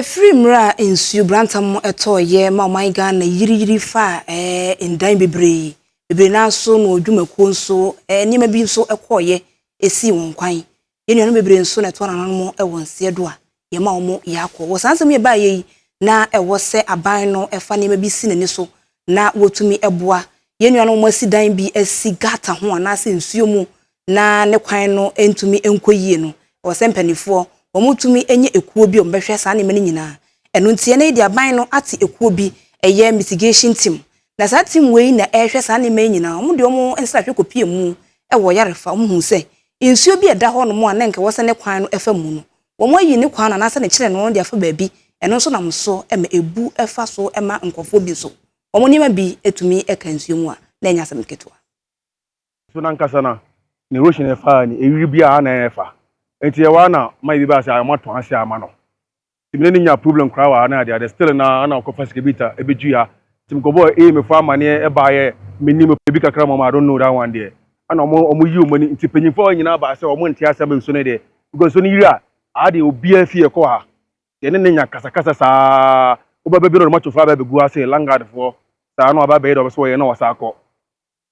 Ɛfiri mmerɛ a nsuo brantam tɔɔ yɛ ma ɔman Ghana yiriyiri faa eh, ndan bebree, bebree no ara nso na ɔdwumakuo nso eh, nneɛma bi nso kɔɔ yɛ ɛsii wɔn kwan. Yɛn nuanom bebree nso na ɛtɔɔ nananom wɔ nseɛ do a yɛ ma wɔn yɛ akɔ. Wɔ saa nsɛm yi ɛbaa yɛ yi, na ɛwɔ sɛ aban no fa nneɛma bi si n'ani so na wɔtumi boa yɛn nuanom a wɔn asi dan bi asi gata ho anaasɛ nsuo mu na ne kwan no ntumi nkɔ yie no, ɛwɔ sɛ mpanimfoɔ wɔtumi nya ekuo bi a wɔbɛhwɛ saa nneɛma no nyinaa. Ɛno nti ɛnnɛ yi deɛ aban no ate ekuo bi, ɛyɛ mitigation team. Na saa team wei na ɛrehwɛ saa nneɛma yi nyinaa. Wɔde wɔn nsrahwɛ kɔpue mu wɔ Yarefa, wɔhuu sɛ nsuo bi a ɛda hɔnom a na nka ɛwɔ sɛ ne kwan no fa mu no, wɔayi ne kwan no anaasɛ ne kyerɛ no de afa baabi, ɛno nso nam so ma ebu fa so ma nkurɔfoɔ bi nso wɔn nneɛma bi tumi ka nsuo mu a, na ɛnyɛ asɛm ketewa. So n'ankasa na ne lotion a ɛfaa ne ɛwiri bia a na ɛfa nti ɛwɔ a na ma ebi baa sɛ wɔatɔn ase a ama no nti me ne no nyaa problem koraa wɔ a na ade ade still na a na ɔkɔfa sika bi ta ɛbɛdui a nti me kɔbɔɔ A me fo amaneɛ ɛbaa yɛ me nim ebi kakra ma wɔn I don't know that one deɛ ɛna wɔn wɔn yi wɔn ani nti panyinfoɔ hɔ nyinaa baa sɛ wɔn nte aseɛ ama nsuo no deɛ because nsuo no yiri a aa deɛ obiara fie ɛkɔ ha deɛ ne ne nya kasakasa saa wobɛbɛ bi na ɔde matofoɔ aba abɛgu ase langard foɔ saa na waba abɛyɛ deɛ ɔbɛ sɛ wɔyɛ na wɔsa akɔ.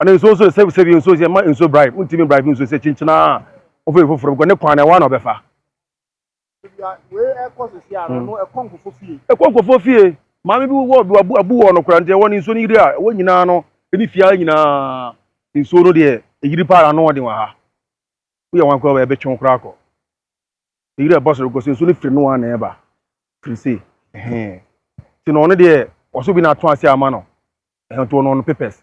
Ɔno nsuo nso sɛ sɛbi nsuo sɛ ma nsuo bribe ntumi bribe nsuo sɛ kyinkyin aa ɔfɛ foforɔ bɛkɔ ne kwan na ɛwɔ na ɔbɛfa. Ɛkɔ nkɔfoɔ fie maame bi wɔ bi wabu abu wɔ no kora nti ɛwɔ ne nsuo no yiri a ɛwɔ nyinaa no ɛne fie ara nyinaa nsuo no deɛ ɛyiri paa ano ɔden wɔ ha woyɛ wɔn akora ɛbɛtwe koraa akɔ ɛyiri ɛbɔ soro kɔ so nsuo no firi no ara na ɛba firi se ɛhɛn ti na ɔno deɛ ɔso bi na ato ase ama no ɛhɛn to ɔno ɔno papers